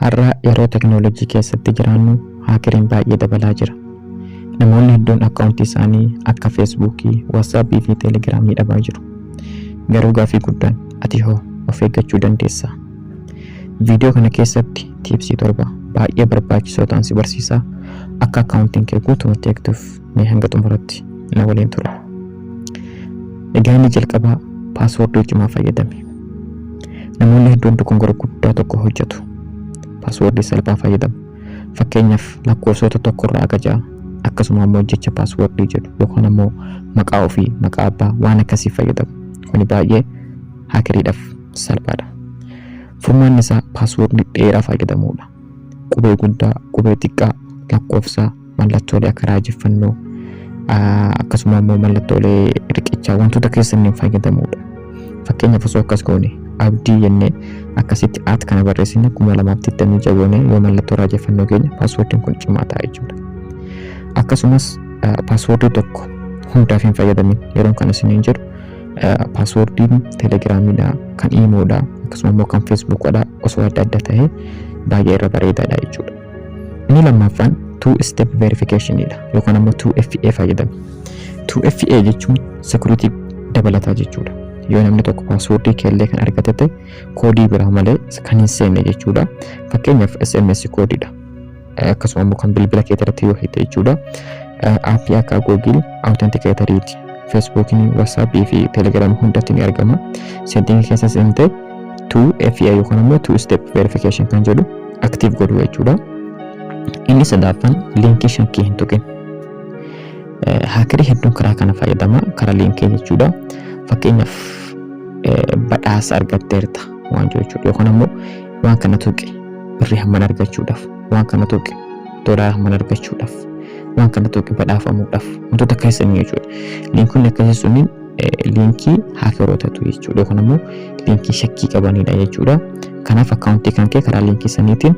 Har'a yeroo teknolojii keessatti jiraannu haakeriin baay'ee dabalaa jira. Namoonni hedduun akkaawuntii isaanii akka Feesbuukii, Waatsaappii fi Teelegiraamii dhabaa jiru. Garuu gaaffii guddaan ati hoo of eeggachuu dandeessaa? Viidiyoo kana keessatti tiipsii 7 baay'ee barbaachisoo ta'an si barsiisaa akka akkaawuntiin kee guutumatti eegduuf. Mee hanga xumuratti na waliin tura. Egaa inni jalqabaa paaswoordii cimaa fayyadame. Namoonni hedduun dogongora guddaa tokko hojjetu. Paaswoordii salphaa fayyadamu. Fakkeenyaaf lakkoofsota tokkorraa hanga ja'a akkasuma ammoo jecha paaswoordii jedhu yookaan ammoo maqaa ofii maqaa abbaa waan akkasii fayyadamu. Kuni baay'ee haakiriidhaaf salphaadha. Furmaanni isaa paaswoordii dheeraa fayyadamuudha. Qubee guddaa, qubee xiqqaa, lakkoofsaa, mallattoolee akka raajeffannoo akkasuma immoo mallattoolee riqichaa wantoota keessaniin fayyadamuudha. Fakkeenyaaf osoo akkas goone abdii jennee akkasitti at kana barreessine kuma lamaaf digdamii ja'a goone yoo mallattoo raajeffannoo keenya paaswoordiin kun cimaa ta'a jechuudha. Akkasumas paaswoordii tokko hundaaf hin fayyadamin yeroon kana isiniin jedhu paaswoordiin telegiraamiidha kan iimoodha akkasuma immoo kan feesbuukoodha osoo adda adda ta'e baay'ee irra bareedaadha jechuudha. Inni lammaffaan two step verification dha yookaan ammoo 2FA fayyadame. 2FA jechuun security dabalataa jechuudha. Yoo namni tokko paaswoordii keellee kan argate ta'e koodii biraa malee kan hin seenne jechuudha. Fakkeenyaaf SMS koodiidha. Akkasuma immoo kan bilbila kee irratti yoo hidhe jechuudha. Aappii akka Google Authenticator, Facebook, WhatsApp fi Telegram hundatti ni argama. Setting keessa seentee two FI yookaan immoo two step verification kan jedhu active godhu jechuudha. Inni sadaffaan liinkii shakkii hin tuqin. Haakirii hedduun karaa kana fayyadama karaa liinkii jechuudha. Fakkeenyaaf badhaasa argatteerta waan jechuudha yookaan immoo waan kana tuqi birrii hamman argachuudhaaf waan kana tuqi doolaara hamman argachuudhaaf waan kana tuqi badhaafamuudhaaf wantoota akkasii jechuudha. Liinkonni akkasii sunniin liinkii haakerootatu jechuudha yookaan immoo liinkii shakkii qabanidha jechuudha. Kanaaf akkaawuntii kan kee karaa liinkii saniitiin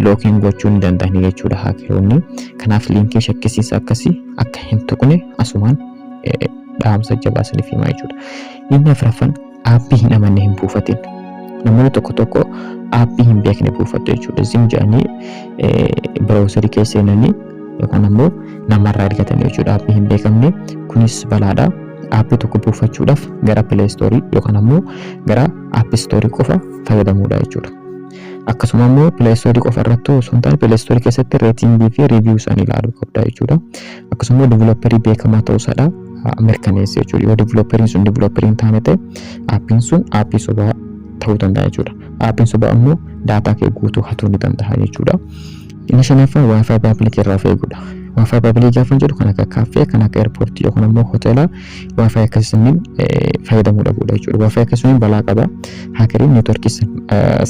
lookiin gochuu ni danda'ani jechuudha haakeroonni. Kanaaf liinkii shakkisiisa akkasii akka hin tuqne asumaan dhaamsa jabaa isiniif himaa jechuudha. Inni afraffaan Aappii hin amanne hin buufatin. Namoonni tokko tokko aappii hin beekne buufatu jechuudha. Zim jedhanii browserii keessa seenanii yookaan ammoo namarraa argatanii jechuudha aappii hin beekamne. Kunis balaadha. Aappii tokko buufachuudhaaf gara Play Store yookaan ammoo gara App Store qofa fayyadamuudha jechuudha. Akkasuma ammoo Play Store qofa irratti osoo hin taane Play Store keessatti reetingii fi review isaanii ilaaluu qabda jechuudha. akkasuma developerii beekamaa ta'uu isaadha mirkaneessa jechuudha. Yoo developeriin sun developerii hin taane ta'e aappiin sun aappii sobaa ta'uu danda'a jechuudha. Aappiin sobaa ammoo daataa kee guutuu hatuu ni danda'a jechuudha. Inni shanaffaa waayifaayi paabilikii irraa of eeguudha. Waayifaayi paabilikii gaafa jedhu kan akka kaaffee, kan akka eerpoortii yookaan ammoo hoteelaa waayifaayi akkasii sanniin fayyadamuu dhabuudha jechuudha. Waayifaayi akkasii sun balaa qaba. Haakeriin neetworkii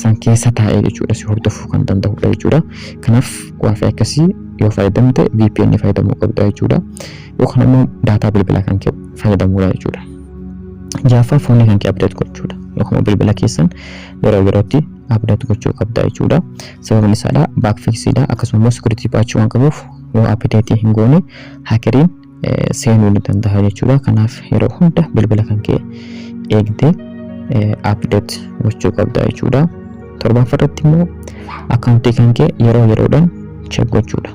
san keessa taa'ee jechuudha si hordofuu kan danda'udha jechuudha. Kanaaf waayifaayi akkasii yoo fayyadamte VPN fayyadamuu qabda jechuudha. Yookaan ammoo daataa bilbila kan kee fayyadamuudha jechuudha. Jaaffaa foonii kan kee update gochuudha. Yookaan bilbila keessan yeroo yerootti update gochuu qabda jechuudha. Sababni isaadha backfixidha akkasuma immoo security patch waan qabuuf yoo update hin goone hackeriin seenuu ni danda'a jechuudha. Kanaaf yeroo hunda bilbila kan kee eegdee update gochuu qabda jechuudha. Torbaffaa irratti immoo akkaawuntii kan kee yeroo yeroodhaan check gochuudha.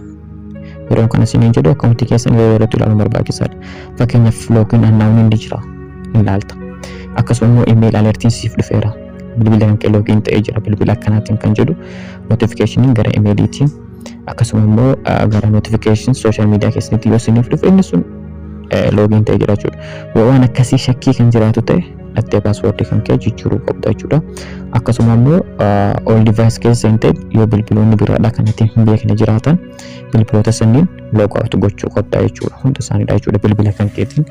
Yeroo kana isin jedhu akkaawuntii keessan yeroo yerootti ilaaluun barbaachisaadha. Fakkeenyaaf loogiin annaawun hundi jira ilaalta. Akkasuma immoo email alertiin siif dhufeera. Bilbila kan kee loogiin ta'ee jira bilbila akkanaatiin kan jedhu notification gara emailiitiin akkasuma immoo gara notification social media keessanitti yoo isiniif dhufe inni sun loogiin ta'e jira jechuudha. Yoo waan akkasii shakkii kan jiraatu ta'e dhattee paaswoordii kan kee jijjiiruu qabda jechuudha. Akkasuma immoo all device keessa seentee yoo bilbiloonni biraadhaa kan ittiin hin beekne jiraatan bilbiloota sanniin log out gochuu qabda jechuudha. Hunda isaaniidha jechuudha bilbila kan keetiin.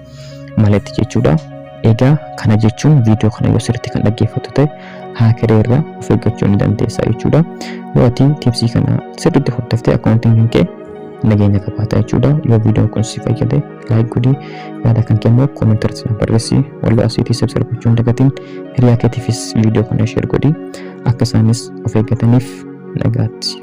malatti jechuudha. Egaa kana jechuun viidiyoo kana yoo sirriitti kan dhaggeeffattu ta'e haakeree irraa of eeggachuu ni dandeessa jechuudha. Yoo ati tiipsii kana sirriitti hordoftee akkaawuntiin kan kee nageenya qabaata jechuudha. Yoo viidiyoon kun si fayyade laayik godhi yaada kan kennu koomentii irratti naaf barreessi. Walloo asiitii sabsirra gochuu hin dagatiin hiriyaa keetiifis viidiyoo kana sheer godhi akka isaanis of eeggataniif nagaatti.